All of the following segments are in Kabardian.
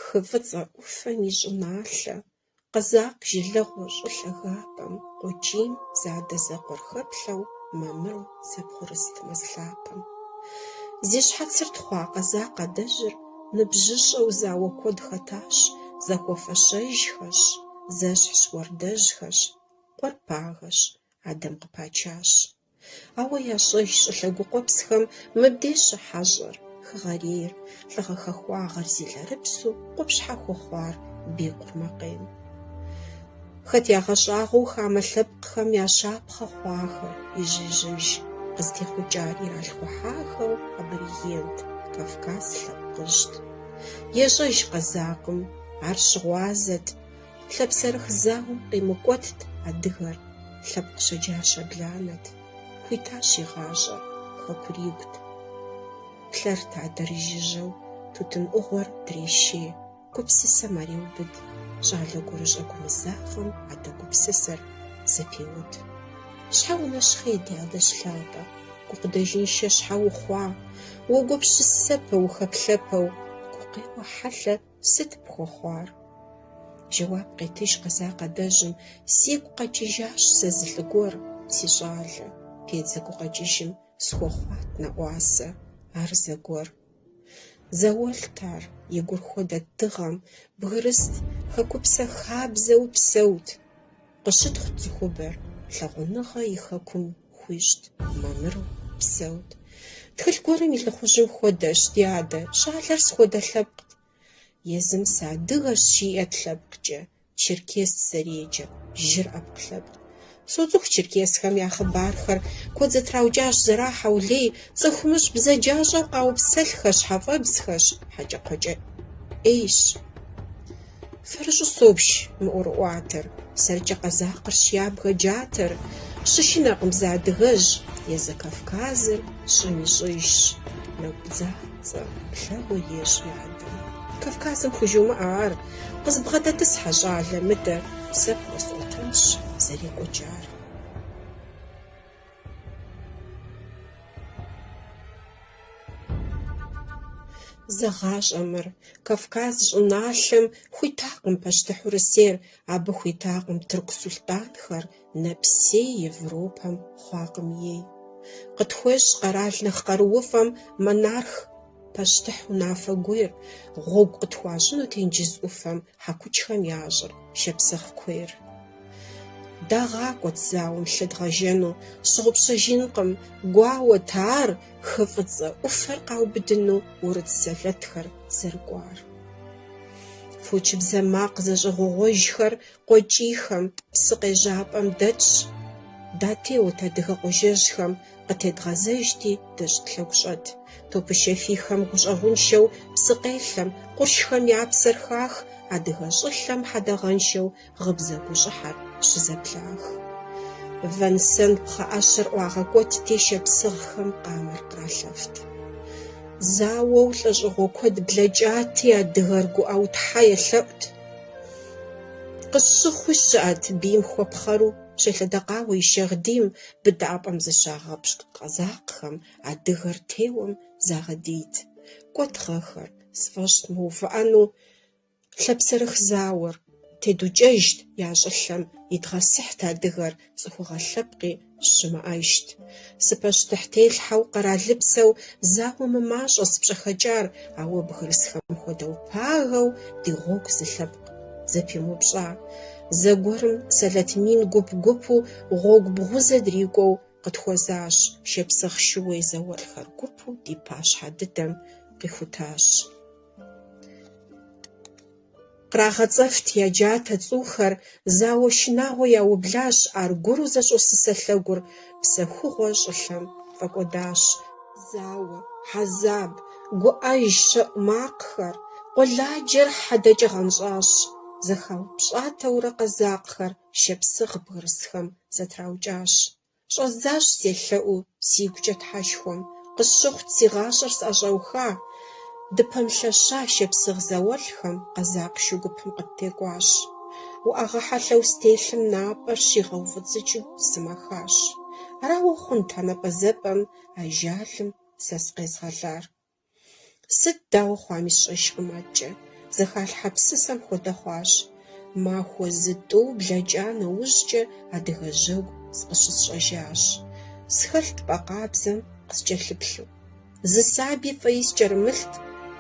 Хы Фӏыцӏэ ӏуфэм и щӏыналъэ, Къэзакъ жылэгъуэ щӏы лъагапӏэм, Къуэкӏийм зэадэзэкъуэр хэплъэу, Мамыру зэбгъурыст мэз лъапэм. Зи щхьэцыр тхъуа къэзакъ адэжьыр, Ныбжьыщӏэу зауэ куэд хэтащ, зэхуэфэщэжхэщ, зэщхьщ уардэжьхэщ, къуэр пагэщ, адэм къыпачащ. Ауэ ящӏэж щӏы лъэгу къуэпсхэм мыбдеж щыхьэщӏэр, хэгъэрейр, лӏыгъэ хахуагъэр зи лъэрыпсу къупщхьэ хуэхъуар бгы къурмакъейм. Хэт ягъэщӏагъуэу хамэ лъэпкъхэм я щапхъэ хъуахэр, ижь-ижьыж къызытехъукӏар иралъхухьахэу аборигент Кавказ лъэпкъыжьт. Ещӏэж къэзакъым, ар щыгъуазэт, лъэпсэрых зауэм къимыкӏуэтт адыгэр, лъэпкъ щэджащэ бланэт, хуитащ и гъащӏэр, хэкур и гут. Плъэрт адэр жыжьэу, тутын ӏугъуэр дрешей. Гупсысэм ар еубыд щӏалэ гурыщӏэ гумызагъэм адэ гупсысэр зэпеуд. Щхьэ унэщхъей ди адэ лъапӏэ, гукъыдэжыншэ щхьэ ухъуа, уогупщысэпэ, ухэплъэпэу, гукъеуэ хьэлъэ сыт пхуэхъуар? Жэуап къетыж къэзакъ адэжьым, сигу къэкӏыжащ сэ зы лӏы гуэр, си щӏалэ, педзэ гукъэкӏыжым схуэхъуат нэӏуасэ, ар зэгуэр. Зауэлӏт ар, и гур хуэдэт дыгъэм, бгырыст, хэкупсэ хабзэу псэут. Къыщытхъут цӏыхубэр, лъагъуныгъэ и хэкум хуищӏт, мамыру псэут. Тхылъ гуэрым и лӏыхъужьым хуэдэщ ди адэ, щӏалэр сыт хуэдэ лъэпкът. Езым сыадыгэщ жиӏэт лъэпкъкӏэ, Черкес зэреджэ, жыр ӏэпкълъэпкъ. Соцӏыху черкесхэм я хъыбархэр куэд зэтраукӏащ зэрахьэу лей, цӏыхумыщӏ бзаджащӏэу къаупсэлъхэ щхьэфӏэбзхэщ Хьэкӏэкхъуэкӏэ ӏейщ. Фэрыщӏу собж мы ӏуэрыӏуатэр, сэркӏэ къэзакъырщ ябгэ джатэр, щышынэркъым зы адыгэжь, езы Кавказыр щӏым ищӏыжщ, нэкӏу бдза. Цӏэ плъэгъуэ ещӏ и адэм. Кавказым хужумыӏэ ар. Къызбгъэдэтӏысхьэ, щӏалэ мыдэ. Сэ пхуэсӏуэтэнщ зэрекӏуэкӏар. Зэгъащӏэ мыр. Кавказ щӏыналъэм хуитакъым пащтыхь Урысейр, абы хуитакъым тырку сулътӏанхэр, Нэпсей Европэм хъуакъым ей. Къытхуещӏ къэрал нэхъ къарууфӏэм монарх пащтыхь унафэ гуейр, гъуэгу къытхуащӏыну тенджыз ӏуфэм хьэкучхэм я щӏыр шапсыгъ куейр. Дагъакӏуэт зауэм лъы дгъэжэну, сщыгъупщэжынкъым, гуауэт ар хы фӏыцӏэ ӏуфэр къаубыдыну урыс сэлэтхэр зэрыкӏуар. Фочыбзэ макъ зэщӏэгъуэгъуэжхэр Къуэкӏийхэм, псы къежьапӏэм дэтщ. Датеуэт адыгэ къуажэжьхэм къытедгъэзэжти, дэ тщӏыт лъэгущӏэт. Топышэ фийхэм гущӏэгъуншэу псы къелъэм, къуршхэм я псэр хах, адыгэ щӏылъэм хьэдэгъэншэу гъыбзэ гущӏыхьэр щызэблах. Вэн-сэн пхъэӏэщэр ӏуагъэкӏуэтти, шапсыгъхэм къамэр къралъэфт. Зауэу лӏэщӏыгъуэ куэд блэкӏати, адыгэр гуӏэу Тхьэ елъэӏут. Къыщыхъуи щыӏэт бийм хуэпхъэру щелъэдэкъауэ и шагъдийм быдапӏэм зыщагъэпщкӏу къэзакъхэм адыгэр теуэм загъэдийт. Кӏуэт гъэхэр, сфӏэщӏыт мыувыӏэну лъапсэрых зауэр, тедукӏэжт я щӏылъэм идгъэсыхьт адыгэр цӏыхугъэ лъэпкъи Щымыӏэжт. Сыпащтыхь телъхьэу къэралыпсэу зауэ мымащӏэ сыпщӏэхэкӏар, ауэ бгырысхэм хуэдэу пагэу ди гъуэгу зы лъэпкъ зэпимыупщӏа. Зэгуэрым сэлэт мин гуп-гупу гъуэгу бгъузэ дрикӏуэу къытхуэзащ, шапсыгъ шууей зауэлӏхэр гупу ди пащхьэ дыдэм къихутащ. Кърагъэцӏэфт я джатэ цӏухэр, зауэ шынагъуэ яублащ, аргуэру зэщӏосысэ лъэгур псэхугъуэ щӏылъэм фӏэкӏуэдащ. Зауэ, хьэзаб, гуӏэж, щэӏу макъхэр, къуэладжэр хьэдэкӏэ гъэнщӏащ. Зэхаупщӏатэурэ къэзакъхэр шапсыгъ бгырысхэм зэтраукӏащ. Щӏэздзащ селъэӏуу сигукӏэ Тхьэшхуэм, Къысщыхъут си гъащӏэр сӏэщӏэуха. Дыпэмылъэща шапсыгъ зауэлӏхэм Къэзакъ шу гупым къыттекӏуащ. Уӏэгъэ хьэлъэу стелъым Напӏэр щигъэуфӏыцӏыкӏыу сымэхащ. Арауэ хъунт а напӏэзыпӏэм Ажалым сэ сыкъезгъэлар. Сыт дауэ хъуами сщӏэжкъым адэкӏэ. Зэхалъхьэ псысэм хуэдэ хъуащ. Махуэ зы тӏу блэкӏа нэужькӏэ адыгэ жьэгу зыкъыщысщӏэжащ. Схэлът пӏэ къабзэм къыскӏэлъыплъу. Зы сабэ фӏеи скӏэрымылът,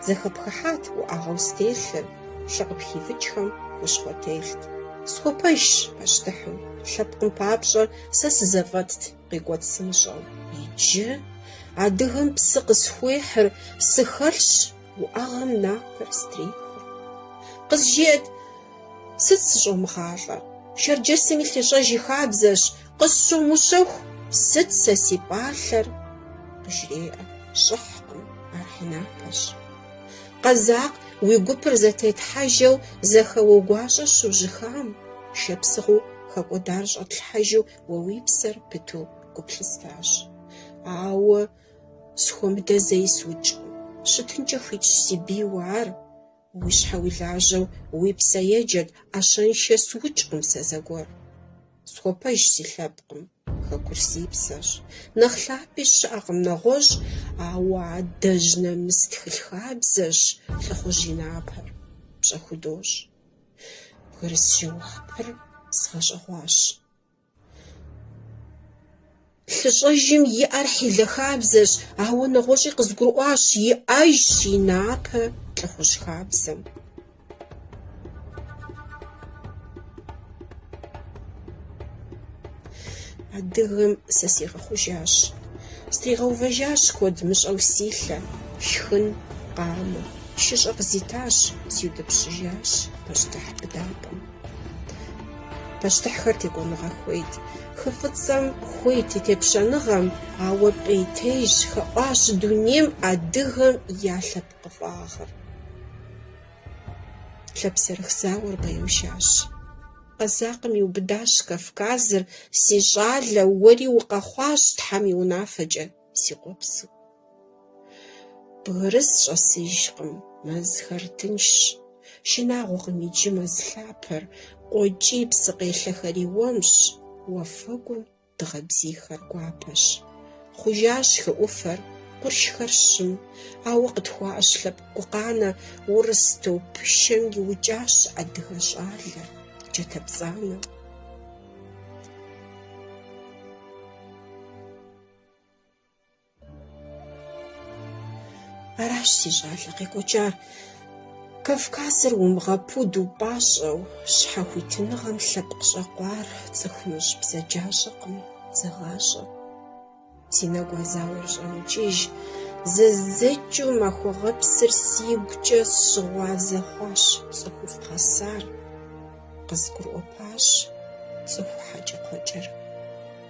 зэхэпхыхьат уӏэгъэу стелъыр, лъы къыпхивыкӏхэм хущхъуэ телът. Схуэпэжщ пащтыхьым. Лъэпкъым папщӏэ сэ сызэфӏэтт. къекӏуэ псынщӏэу. Иджы адыгэм псы къысхуехьыр сыхэлъщ уӏэгъэм напэр стрехыр. Къызжеӏэт, сыт сыщӏомыгъалӏэр? Шэрджэсым и лъыщӏэж и хабзэщ, къысщумыщэху, сыт сэ си пӏалъэр? Къыжреӏэ, щӏыхькъым, ар хьэйнапэщ. Къэзакъ уи гупыр зэтетхьэжу зэхэуэ гуащӏэ щыужьыхам, шапсыгъыу хэкӏуэдар щӏэтлъхьэжу Уэ уи псэр пыту гу плъыстащ. Ауэ схуэмыдэ зэи сукӏкъым. Щытынкӏэ хуитщ си бийуэ ар. Уи щхьэ уи лажьэу уи псэ еджэт, ӏэщэншэ сукӏкъым сэ зэгуэр. Схуэпэж си лъэпкъым, хэкур си псэщ. Нэхъ лъапӏи щыӏэкъым нэгъуэщӏ, ауэ адэжь нэмыс тхэлъ хабзэщ лӏыхъужь и напэр пщӏэ худощӏ. Бгырыс жэуапыр сгъэщӏэгъуащ. Лъыщӏэжым и ӏэр хьэлъэ хабзэщ, ауэ нэгъуэщӏи къызгурыӏуащ иӏэжщ и напэ лӏыхъужь хабзэм. Адыгэм сэ сигъэхъужащ. Стригъэувэжащ куэд мыщӏэу си лъэ. Шхын, къамэ, шыщӏэ къызитащ, сиутӏыпщыжащ пащтыхь быдапӏэм. Пащтыхьхэр текӏуэныгъэ хуейт. Хы фӏыцӏэм хуейт и тепщэныгъэм, ауэ пӏейтейщ хэӏуащ дунейм адыгэм я лъэпкъыфӏагъыр. Лъэпсэрых зауэр къэушащ. Къэзакъым иубыдащ Кавказыр, си щӏалэ, уэри укъэхъуащ Тхьэм и унафэкӏэ, си къуэпсу. Бгырыс щӏэсыжкъым, мэзхэр тыншщ, шынагъуэкъым иджы мэз лъапэр, къуэкӏий псы къелъэхэри уэмщ, уафэгум Дыгъэ бзийхэр гуапэщ. Хъужащ хы ӏуфэр, къуршхэр щым, ауэ къытхуаӏэщ лъэпкъ гукъанэ. Урыс топышэм иукӏащ адыгэ щӏалэр, джатэ пцӏанэ. Аращ си щӏалэ къекӏуэкӏар. Кавказыр умыгъэпуду пӏащӏэу, щхьэхуитыныгъэм лъэпкъ щӏэкъуар цӏыхумыщӏ бзаджащӏэкъым, зэгъащӏэ. Си нэгу а зауэр щӏэмыкӏыж, зэздзэкӏыу махуэ гъэпсыр сигукӏэ сщыгъуазэ хъуащ цӏыхуфӏ гъэсар. Къызгурыӏуэпащ цӏыху хьэкӏэкхъуэкӏэр.